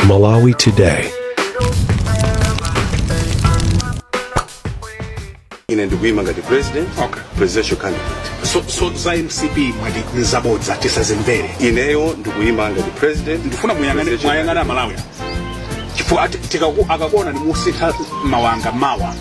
Malawi Today. ine ndikuima ngati president Okay. presidential candidate so, so za mcp mwati nizabodza tisazimvere ineyo ndikuima ngati president ndifuna muyang'ane presidential- muyang'ane amalawi chifukwa ati- tikaku- akakuona ni musintha mawanga mawa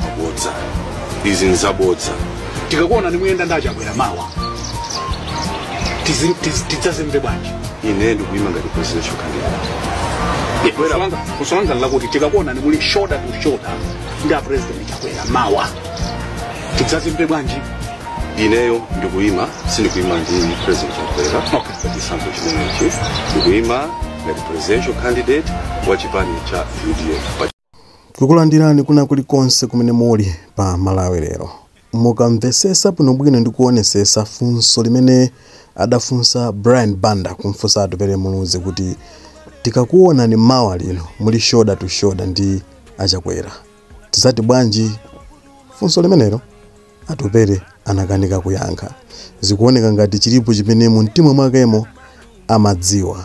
mabodza izi nzabodza tikakuona nimuyenda ndi achakwera mawa Tizi- tizi- tidzazimve bwanji ine ndikuyima ngati presidential candidate funso langa lakuti tikakuona nimuli shoulder to shoulder ndi a president chakwera mawa tidzazimve bwanji ineyo ndikuyima sindikuyima ndi president chakwera Okay. pa chisankho chimenechi ndikuyima ngati presidential candidate wa chipani cha udf pa Tikukulandirani kwina kulikonse kumene muli pa Malawi lero. Mukamvesesa bwinobwino ndi kuonesesa funso limene adafunsa Brian Banda kumfunsa Atupele Muluzi kuti tikakuonani mawa lino muli shoulder to shoulder ndi a Chakwera tizati bwanji? Funso limenelo Atupele anakanika kuyankha. Zikuoneka ngati chilipo chimene mumtima mwakemo amadziwa.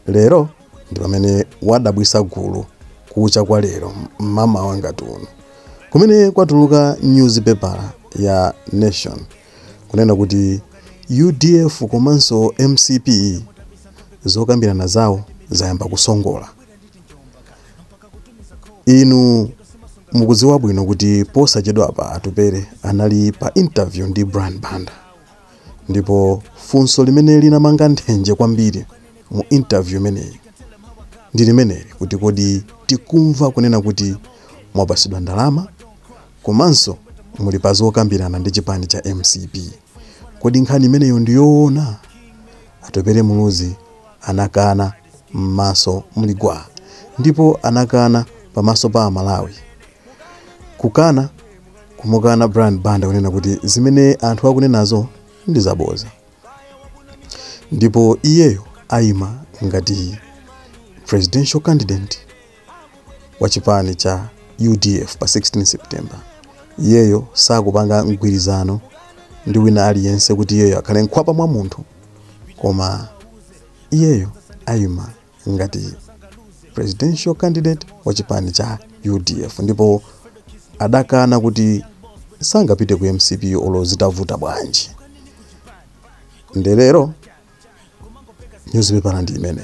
Lero ndi pamene wadabwisa gulu kucha kwa lero mmamawa ngati uno kumene kwatuluka nyuzi pepala ya Nation kunena kuti udf komanso mcp zokambirana zawo zayamba kusongola. Inu mukudziwa bwino kuti posachedwapa Atupele anali pa interview ndi Brian Banda. Ndipo funso limene linamanga nthenje kwambiri mu interview imeneyi ndi limeneli kuti kodi tikumva kunena kuti mwapasidwa ndalama komanso muli pa zokambirana ndi chipani cha mcp, kodi nkhani imeneyo ndi yoona? Atupele Muluzi anakana mmaso muli gwaa ndipo anakana pamaso pa a Malawi. kukana kumukana brian banda kunena kuti zimene anthu akunenazo ndi zaboza ndipo iyeyo ayima ngati presidential candidate wa chipani cha udf pa 16 september iyeyo sakupanga mgwirizano ndi wina aliyense kuti iyeyo akhale mkhwapa mwa munthu koma iyeyo ayima ngati presidential candidate wa chipani cha udf ndipo adakana kuti sangapite ku mcp olo zitavuta bwanji nde lero nyuzipepala ndi imene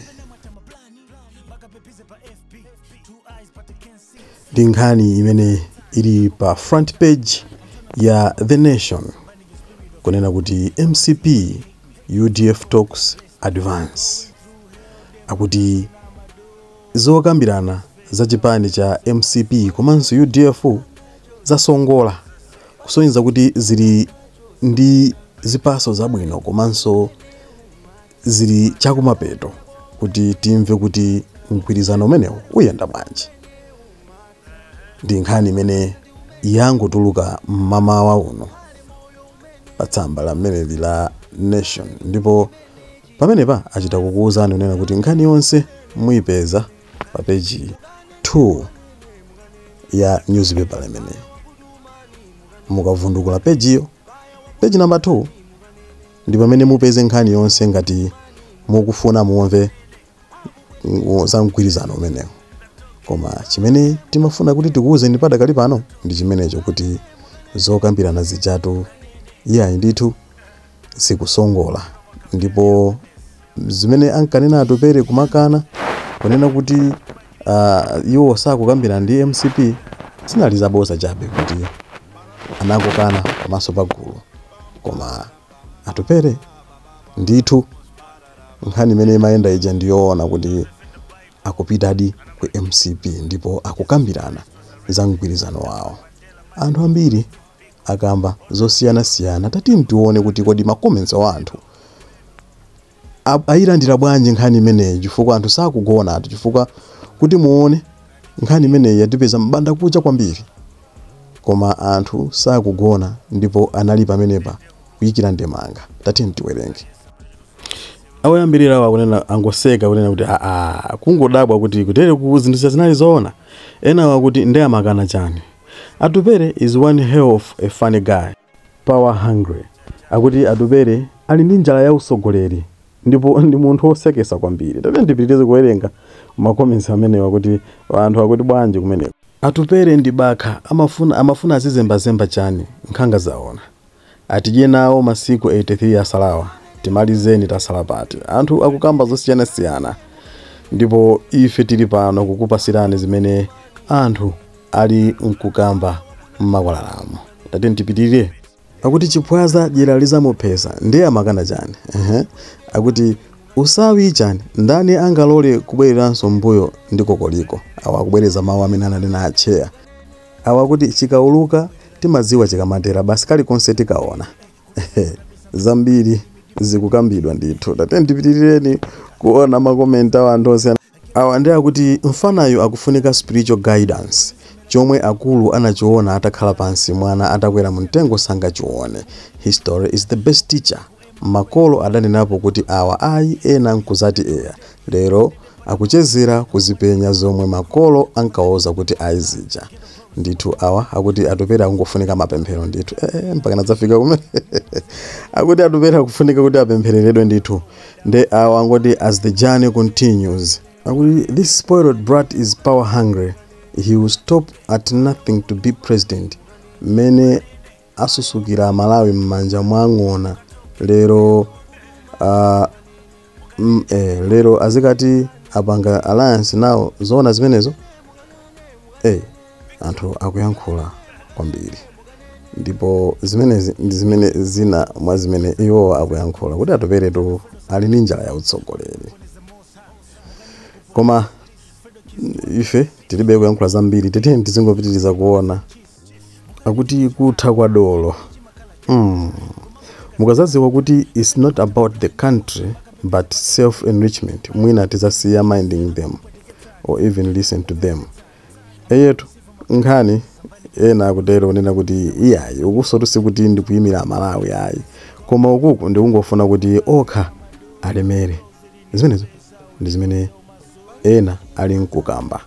ndi nkhani imene ili pa front page ya the nation kunena kuti mcp udf talks Advance akuti zokambirana za chipani cha mcp komanso udf zasongola kusonyeza kuti zili ndi zipaso zabwino komanso zili chakumapeto kuti timve kuti mgwirizano umenewu uyenda bwanji. ndi nkhani imene yangotuluka mmamawa uno pa tsamba la mmeneli la nation ndipo pamenepa achita kukuwuzani kunena kuti nkhani yonse muyipeza pa peji 2 ya newspaper imeneyo mukavundukula pejiyo peji namba 2 ndi pamene mupeze nkhani yonse ngati mukufuna mumve mm, za mgwirizano umenewu koma chimene timafuna kuti tikuwuzeni padakali pano ndi chimenecho kuti zokambirana zijatu iyayi ndithu zikusongola ndipo zimene ankanena atupere kumakana kunena kuti uh, iwo sakukambirana ndi mcp zinali zaboza chabe kuti anakukana pamaso pa gulu koma atupere ndithu nkhani imene imayenda ija ndi yoona kuti akupitadi ku mcp ndipo akukambirana za mgwirizano wawo anthu ambiri akamba zosiyanasiyana tatiyeni tione kuti kodi ma comments a anthu a- ayilandira bwanji nkhani imeneyi chifukwa anthu sakugona chifukwa kuti muone nkhani imeneyi yatipeza mbanda kucha kwambiri koma anthu sakugona ndipo anali pamenepa kuyikira ndemanga tatiyeni tiwerenge awoyambirira awo akunena angoseka kunena kuti aa kungodabwa kuti kutere ku zinthu zija zinali zoona enawo akuti nde amakana chani atupere is one hell of a funny guy power hungry akuti atupere ali ndi njala ya usogoleri ndipo ndi munthu wosekesa kwambiri tate ndipitirize kuwerenga makomensi amenewa kuti anthu akuti bwanji kumeneko atupere ndi bakha amafuna azizembazemba chani nkhanga zaona Atidye nawo masiku 83 asalawa timalizeni tasala pati anthu akukamba zosiyana siyana ndipo ife tili pano kukupasirani zimene anthu ali nkukamba mmakwalalamu tatiyeni tipitirire. Akuti chiphwaza dyera lizamuphesa ndiye amakana chani ehe akuti usawi chani ndani angalole kubwereranso mbuyo ndi kokoliko awa akubwereza mawu amene ananena atcheya. Awa akuti chikauluka timadziwa chikamatera basi kalikonse tikaona zambiri zikukambidwa ndithu tatiyeni tipitirireni kuona ma comment a anthu osiyana awa ndi akuti mfanayo akufunika spiritual guidance chomwe akulu anachiona atakhala pansi mwana atakwera mumtengo sangachione history is the best teacher Makolo adanenapo kuti awa ayi ena nkuzati eya. Lero akuchezera kuzipenya zomwe makolo ankawauza kuti ayi zija. Ndithu awa akuti Atupele akungofunika mapemphero ndithu. Eee mpakana zafika kumeneko? Akuti Atupele akufunika kuti apemphereredwe ndithu. Nde awa angoti as the journey continues. Akuti this spoiled brat is power hungry, he will stop at nothing to be president. Mmene Azunzikira amalawi mmanja mwa ng'ona lero aah mm eeh lero azikati apanga alliance nawo zoona zimenezo? eeh anthu akuyankhula kwambiri ndipo zimenezi ndi zimene zina mwa zimene iwowa akuyankhula kuti Atupele tu ali ndi njala ya utsogoleri koma ife tilibe kuyankhula zambiri tiyeni tizingopitiliza kuona. akuti kutha kwa dolo mm. mukazadziwa kuti its not about the country but self enrichment mwina tizasiya minding them or even listen to them eyetu nkhani ena akutero kunena kuti iyayi ukunsotu sikuti ndikuyimira amalawi ayi koma ukuku ndikungofuna kuti okha alemere zimenezo ndi zimene ena ali mkukamba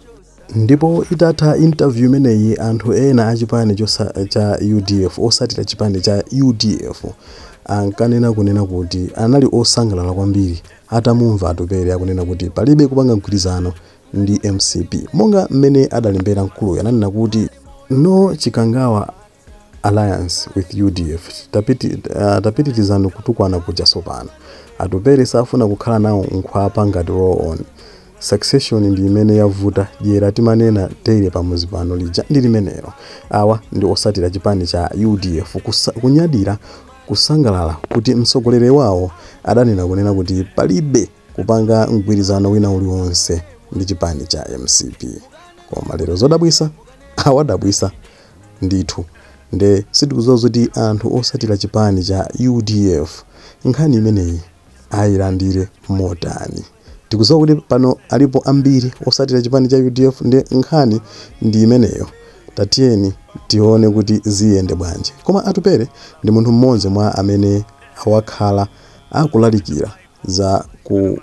Ndipo itatha interview imeneyi anthu ena a chipani chosa, cha udf otsatira chipani cha udf ankanena kunena kuti anali osangalala kwambiri atamumva Atupele akunena kuti palibe kupanga mgwirizano ndi mcp monga mmene adalembera mkuluyo ananena kuti no Chikangawa alliance with udf tapiti, uh, tapitirizani kutukwana kuja sopano Atupele safuna kukhala nawo nkhwapa ngati roll on, succession ndi imene yavuta dyera timanena daily pamuzi pano lija ndi limenero awa ndi otsatira chipani cha udf kusa, kunyadira kusangalala kuti mtsogoleri wawo adanena kunena kuti palibe kupanga mgwirizano wina uliwonse ndi chipani cha mcp koma lero zodabwitsa awadabwitsa ndithu nde sitikudziwa zoti anthu otsatira chipani cha udf nkhani imeneyi ayilandire motani tikudziwa kuti pano alipo ambiri otsatira chipani cha udf nde nkhani ndi imeneyo tatiyeni tione kuti ziyende bwanji koma Atupele ndi munthu mmodzi mwa amene wakhala akulalikira za ku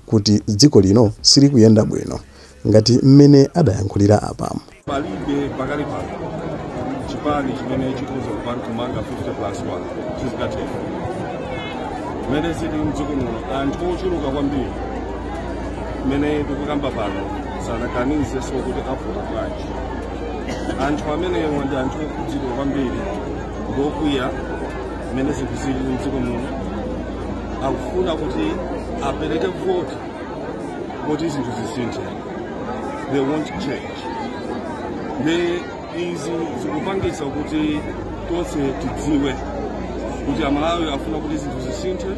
kuti dziko lino silikuyenda bwino ngati mmene adayankhulira apamo. Palibe pakali pano chipani chimene chikhoza kupanga kumanga 50 plus 1 sizingatheke. Mmene zili mdziko muno anthu ochuluka kwambiri mmene tikukamba pano sanaganizenso kuti avota bwanji. Anthu amenewa ndi anthu okhudzidwa kwambiri ndi okwiya mmene zinthu zili mdziko muno. akufuna kuti apereke voti kuti zinthu zisinthe they want change nde izi zikupangitsa kuti tonse tidziwe kuti amalawi afuna kuti zinthu zisinthe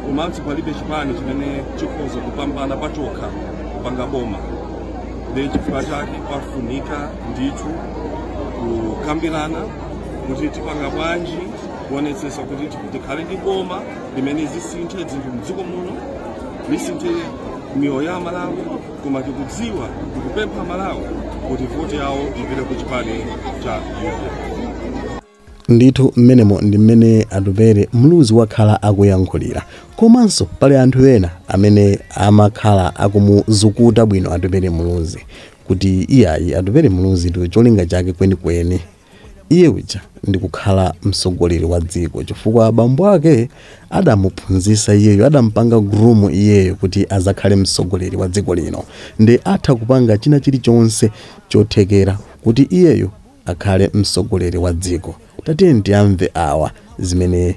komanso palibe chipani chimene chikhoza kupambana pachokha kupanga boma nde chifukwa chake pafunika ndithu kukambirana kuti tipanga bwanji kuonetsetsa kuti tikhale ndi boma limene lisinthe zinthu mdziko muno lisinthe miyoyo ya amalawi koma tikudziwa tikupempha amalawi kuti voti yawo ipite ku chipani cha UDF. ndithu mmenemo ndi mmene atupele muluzi wakhala akuyankhulira komanso pali anthu ena amene amakhala akumuzukuta bwino atupele muluzi kuti iyayi atupele muluzi ndi cholinga chake kwenikweni Iye uja ndi kukhala mtsogoleri wa dziko chifukwa bambo ake adamuphunzisa iyeyo adampanga groom iyeyo kuti azakhale mtsogoleri wa dziko lino nde atha kupanga china chilichonse chothekera kuti iyeyo akhale mtsogoleri wa dziko tatiyeni tiamve awa zimene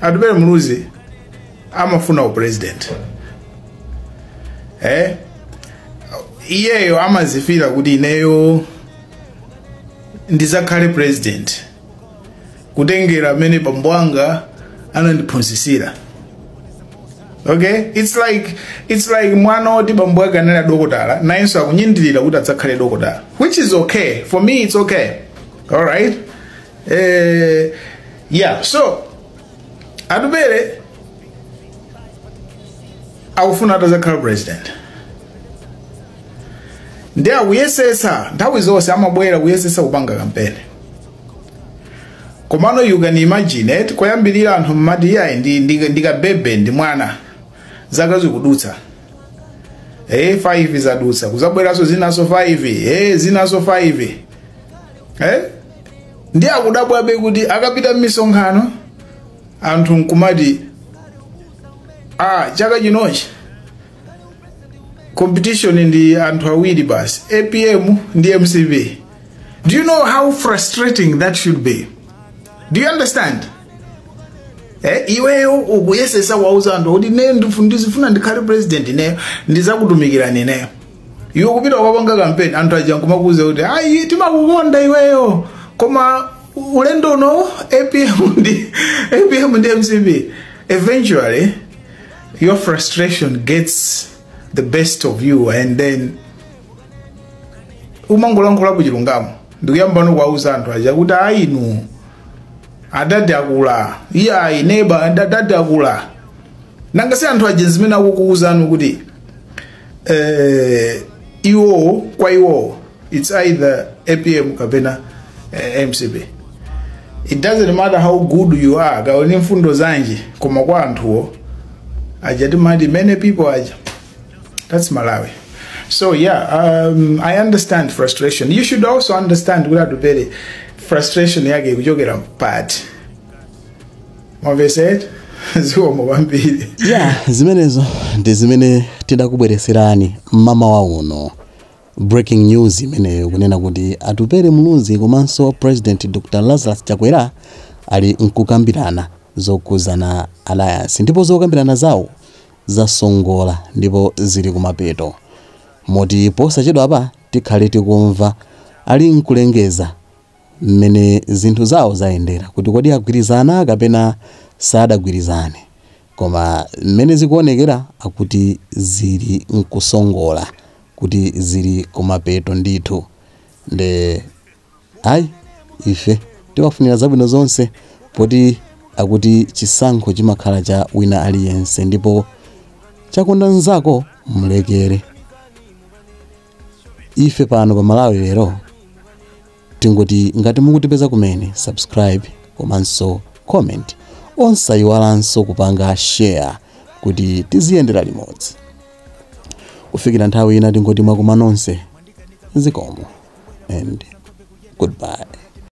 atupele muluzi amafuna upresident eh? iyeyo amazifira kuti ineyo ndizakhale president kutengera mmene bambo anga anandiphunzisira okay it's like it's like mwana oti bambo ake anali a dokotala nayenso akunyadira kuti adzakhale dokotala which is okay for me it's okay all right Eh, yeah, so atupele akufuna atazakhala president ndi akuyesesa nthawi zonse amabwera kuyesesa kupanga kampeni komano you can imagine eti koyambirira anthu mmati iyayi ndi, ndi, ndi kabebe ndi mwana zaka zikudutsa eh 5 zadutsa kuzabweranso zinaso 5 eh zinaso 5 eh? ndi akudabwabe kuti akapita m'misonkhano anthu nkumati a chaka chinochi competition ndi anthu awiri basi apm ndi mcp do you know how frustrating that should be do you understand eh, iweyo ukuyesesa kuwauza anthu kuti ne ndifu- ndizifuna ndikhale president ineyo ndizakutumikirani ineyo iwe kupita kukapanga kampeni anthu aja nkumakuuza kuti ayi timakukonda iweyo koma ulendo uno apm ndi apm ndi mcp eventually your frustration gets the best of you and then umangolankhulapo chilungamo ndikuyamba nokuwauza anthu aja kuti ayi inu adadi akula iye ayi neba adadi akula nanga si anthu aja zimene akukuuzani kuti eh, iwowo kwa iwowo it's either apm kapena eh, mcp it doesn't matter how good you are kaoni mfundo zanji koma kwa anthuwo aja timati many people aja that's malawi so yeah um, i understand frustration you should also understand kuti atupere frustration yake ikuchokera pati mwamvesera zikomo kwambiri ya zimenezo ndi zimene tidakubweretserani mmamawa uno breaking news imeneyo kunena kuti atupere muluzi komanso president dr lazarus chakwera ali nkukambirana zokhuzana alliance ndipo zokambirana zawo zasongola ndipo zili kumapeto moti posachedwa apa tikhale tikumva ali nkulengeza mmene zinthu zawo zayendera kuti kodi agwirizana kapena sadagwirizane koma mmene zikuonekera akuti zili nkusongola kuti zili kumapeto ndithu nde ayi ife tiwafunira zabwino zonse poti akuti chisankho chimakhala cha wina aliyense ndipo chakonda nzako mlekere ife pano pa malawi lero tingoti ngati mukutipeza kumene subscribe komanso comment osayiwalanso kupanga share kuti tiziyendera limodzi kufikira nthawi ina tingoti mwakoma nonse zikomo and goodbye